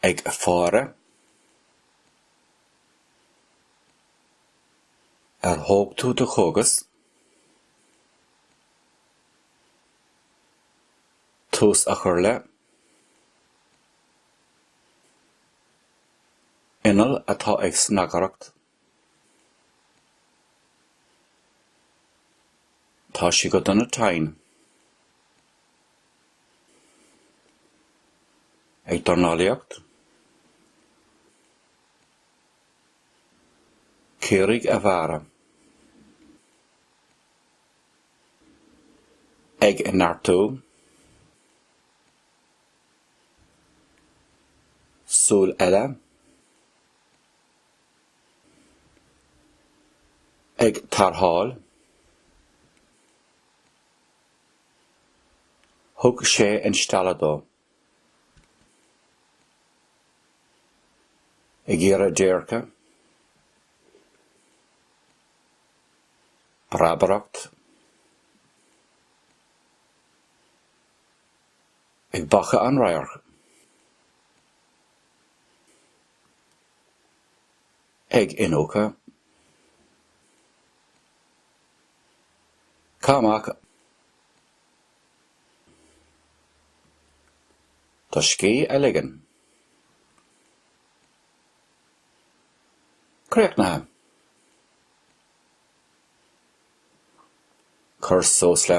ag faire Ar thóg tú do chógas? tús a chur le Inneall atá ag snagaireacht Tá sé go dona tinn. Ag dornálaíocht? Caoraigh a bhearradh. Ag neartú? Súil eile? ag tarrtháil. Thug sé instealladh dó. ag iarraidh déirce. breabaireacht. ag bacadh an radhairc. ag iniúchadh caith amach do scíth a ligean. Críochnaithe. Cur suas le.